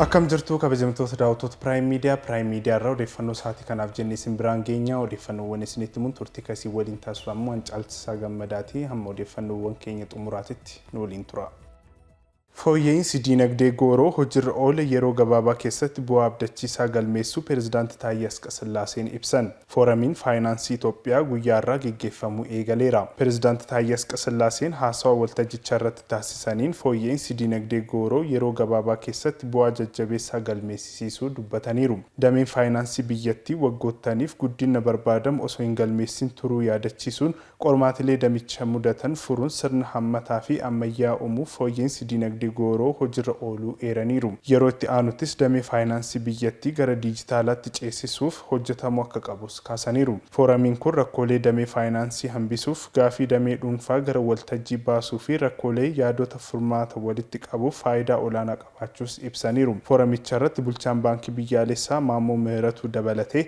Akkam jirtu kabajamtoota daawwattoota Prime Media, Prime Media irraa odeeffannoo sa'aatii kanaaf jennee isin biraan geenya. Odeeffannoowwan isinitti himuun turtii kasii waliin taasisu ammoo Hancaalchisaa Gammadaati. Hamma odeeffannoowwan keenya xumuraatitti nu waliin tura. Fooyya'iinsi diinagdee gooroo hojirra oole yeroo gabaabaa keessatti bu'aa abdachiisaa galmeessuu Pireezidaanti Taayyee Asqasillaaseen ibsan. Fooramiin Faayinaansii Itoophiyaa guyyaa har'aa geggeeffamuu eegaleera. Pireezidaanti Taayyee Asqasillaaseen haasawa waltajjicharratti taasisaniin fooyya'iinsi diinagdee gooroo yeroo gabaabaa keessatti bu'aa jajjabeessaa galmeessisiisuu dubbataniiru. Dameen faayinaansii biyyattii waggoottaniif guddinna barbaadamu osoo hin galmeessiin turuu yaadachiisuun, Qormaatilee damicha mudatan furuun sirna hammataa fi ammayyaa uumuuf fooyya'insi diinagdee gooroo hojirra ooluu eeraniiru. Yeroo itti aanuttis damee faayinaansii biyyattii gara diijitaalaatti ceesisuuf hojjetamuu akka qabus kaasaniiru. Fooramiin kun rakkoolee damee faayinaansii hambisuuf, gaafii damee dhuunfaa gara waltajjii baasuu fi rakkoolee yaadota furmaata walitti qabuuf faayidaa olaanaa qabaachuus ibsaniiru. Fooramicharratti Bulchaan Baankii Biyyaalessaa Maammoo Mihiratuu dabalatee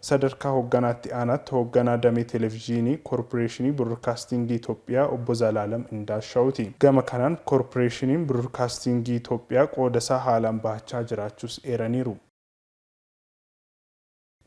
Sadarkaa Hoogganaa Itti Aanaatti Hoogganaa Damee Televizhiinii Korporeeshinii Birorkaastiingii Itoophiyaa Obbo Zalaalam Indaashaawuti. Gama kanaan Korporeeshiniin Birorkaastiingii Itoophiyaa qoodasaa haalaan bahachaa jiraachuus eeraniiru.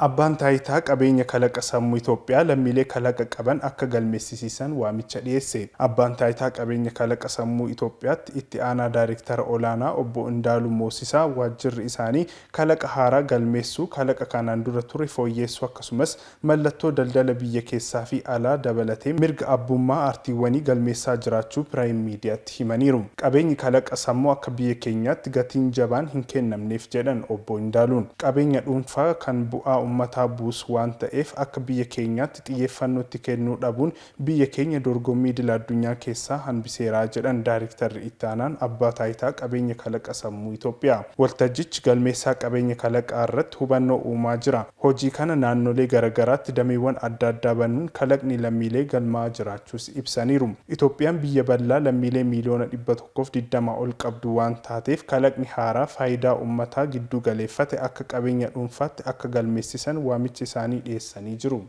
Abbaan Taayitaa Qabeenya Kalaqa Sammuu Itoophiyaa lammiilee kalaqa qaban akka galmeessisiisan waamicha dhiyeesse. Abbaan Taayitaa Qabeenya Kalaqa Sammuu Itoophiyaatti Itti Aanaa Daarektara Olaanaa Obbo Indaalu Moosisaa waajjirri isaanii kalaqa haaraa galmeessuu, kalaqa kanaan dura ture fooyyeessuu akkasumas mallattoo daldala biyya keessaa fi alaa dabalatee mirga abbummaa artiiwwanii galmeessaa jiraachuu Piraayim Miidiyaatti himaniiru. Qabeenyi kalaqa sammuu akka biyya keenyaatti gatiin jabaan hin kennamneef jedhan Obbo Indaaluun. Qabeenya dhuunfaa kan bu'aa ummataa buusu waan ta'eef akka biyya keenyaatti xiyyeeffannoo itti kennuu dhabuun biyya keenya dorgommii idila addunyaa keessaa hanbiseera jedhan Daariktarri Itti Aanaan Abbaa Taayitaa Qabeenya Kalaqa Sammuu Itoophiyaa. Waltajjichi galmeessaa qabeenya kalaqaa irratti hubannoo uumaa jira. Hojii kana naannolee garagaraatti dameewwan adda addaa banuun kalaqni lammiilee galmaa'aa jiraachuus ibsaniiru. Itoophiyaan biyya bal'aa lammiilee miiliyoona dhibba tokkoo fi digdama ol qabdu waan taateef kalaqni haaraa faayidaa ummataa gidduu galeeffate akka qabeenya dhuunfaatti akka galmeessisan waamicha isaanii dhiyeessanii jiru.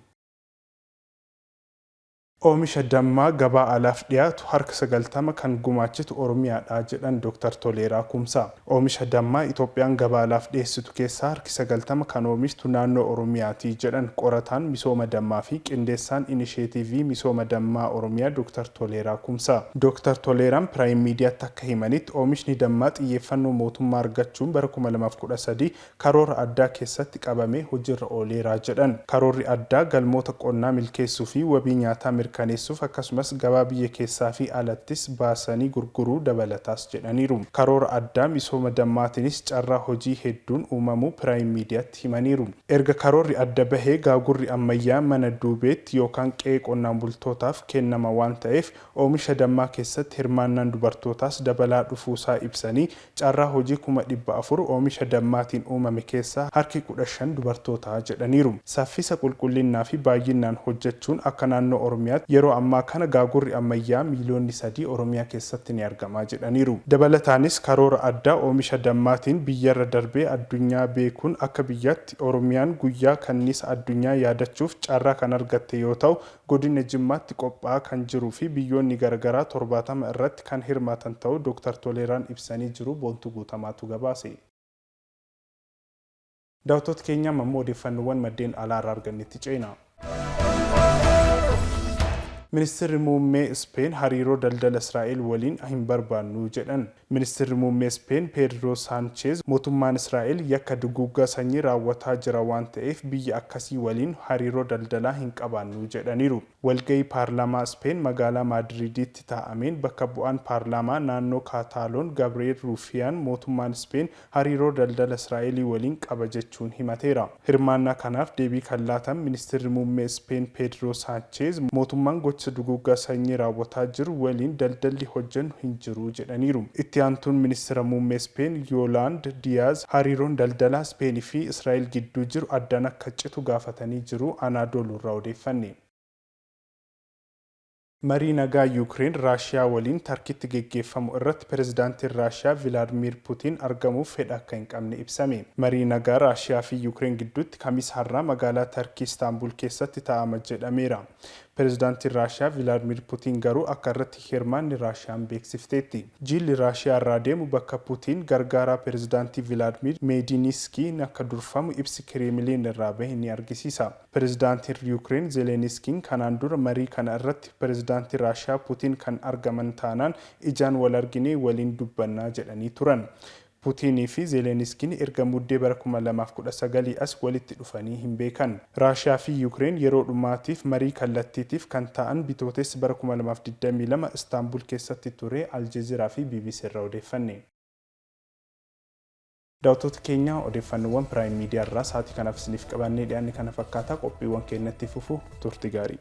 Oomisha dammaa gabaa alaaf dhiyaatu harka sagaltama kan gumaachitu Oromiyaadha jedhan Doktar Toleeraa Kumsaa. Oomisha dammaa Itoophiyaan gabaa alaaf dhiyeessitu keessaa harki sagaltama kan oomishtu naannoo Oromiyaati jedhan qorataan misooma dammaa fi qindeessaan Inisheetiivii Misooma Dammaa Oromiyaa Doktar Toleeraa Kumsaa. Doktar Toleeraan Piraayim Miidiyaatti akka himanitti, oomishni dammaa xiyyeeffannoo mootummaa argachuun bara kuma lamaa fi kudha sadii karoora addaa keessatti qabamee hojiirra ooleera jedhan. Karoorri addaa galmoota qonnaa milkeessuu fi wabii nyaataa mirkaneessuuf akkasumas gabaa biyya keessaa fi alattis baasanii gurguruu dabalataas jedhaniiru. Karoora addaa misooma dammaatiinis carraa hojii hedduun uumamuu Piraayim Miidiyaatti himaniiru. Erga karoorri adda bahee gaagurri ammayyaa mana duubeetti yookaan qe'ee qonnaan bultootaaf kennama waan ta'eef oomisha dammaa keessatti hirmaannaan dubartootaas dabalaa dhufuusaa ibsanii, Carraa hojii kuma dhibba afur oomisha dammaatiin uumame keessaa harki kudha shan dubartoota jedhaniiru. Saffisa, qulqullinnaa fi baayyinnaan hojjechuun akka naannoo Oromiyaatti yeroo ammaa kana gaagurri ammayyaa miiliyoonni sadii Oromiyaa keessatti ni argama jedhaniiru. Dabalataanis karoora addaa oomisha dammaatiin biyyarra darbee addunyaa beekuun akka biyyaatti Oromiyaan guyyaa kanniisa addunyaa yaadachuuf carraa kan argatte yoo ta'u Godina Jimmaatti qophaa'aa kan jiruu fi biyyoonni garagaraa 70 irratti kan hirmaatan ta'uu Dooktar Toleeraan ibsanii jiru Boontuu Guutamaatu gabaase. Daawwattoota keenya amma immoo odeeffannoowwan maddeen alaa irraa argannetti ceenaa. Ministirri Muummee Ispeen hariiroo daldala Israa'el waliin hin barbaannu jedhan. Ministirri Muummee Ispeen Peedroo Saancheez mootummaan Israa'el yakka duguuggaa sanyii raawwataa jira waan ta'eef biyya akkasii waliin hariiroo daldalaa hin qabaannu jedhaniiru. Walga'ii paarlaamaa Ispeen magaalaa Maadriiditti taa'ameen bakka bu'aan paarlaamaa naannoo Kaataaloon Gabri'eel Ruufiyaan mootummaan Ispeen hariiroo daldala Israa'elii waliin qaba jechuun himateera. Hirmaannaa kanaaf deebii kan laatan Ministirri Muummee Ispeen Peedroo Saancheez mootummaan gocha duguuggaa sanyii raawwataa jiru waliin daldalli hojjennu hin jiru jedhaniiru. Itti aantuun Ministira Muummee Ispeen Yoolaand Diyaaz hariiroon daldalaa Ispeen fi Israa'el gidduu jiru addaan akka citu gaafatanii jiru Anaadoluurraa odeeffanne. Marii nagaa Yuukireen Raashiyaa waliin Tarkitti geggeeffamu irratti Pirezidaantiin Raashiyaa Vilaadmiir Putiin argamuuf fedha akka hin qabne ibsame. Marii nagaa Raashiyaa fi Yuukireen gidduutti Kamisa har'aa magaalaa Tarkii Istaanbul keessatti taa'ama jedhameera. Pirezidaantiin Raashiyaa Vilaadmiir Putiin garuu akka irratti hin hirmaanne Raashiyaan beeksifteetti. Jiilli Raashiyaa irraa deemu bakka Putiin gargaaraa Pirezidaantii Vilaadmiir Meediiniiskiin akka durfamu ibsi Kireemiliin irraa bahe ni argisiisa. Pirezidaantiin Yuukireen Zeleniskiin kanaan dura marii kana irratti Pirezidaantii Raashiyaa Putiin kan argaman taanaan ijaan wal arginee waliin dubbanna jedhanii turan. Putiinii fi Zeleniskiin erga Muddee bara kuma lamaa fi kudha sagalii as walitti dhufanii hin beekan. Raashiyaa fi Yuukireen yeroo dhumaatiif marii kallattiitiif kan taa'an Bitootessa bara kuma lamaa fi digdamii lama Istaanbul keessatti ture, Aljeziraa fi bbc irraa odeeffanne. Daawwattoota keenya odeeffannoowwan Prime Media irraa sa'aatii kanaaf isiniif qabaannee dhiyaanne kana fakkaata. Qophiiwwan keenya itti fufu. Turti gaarii.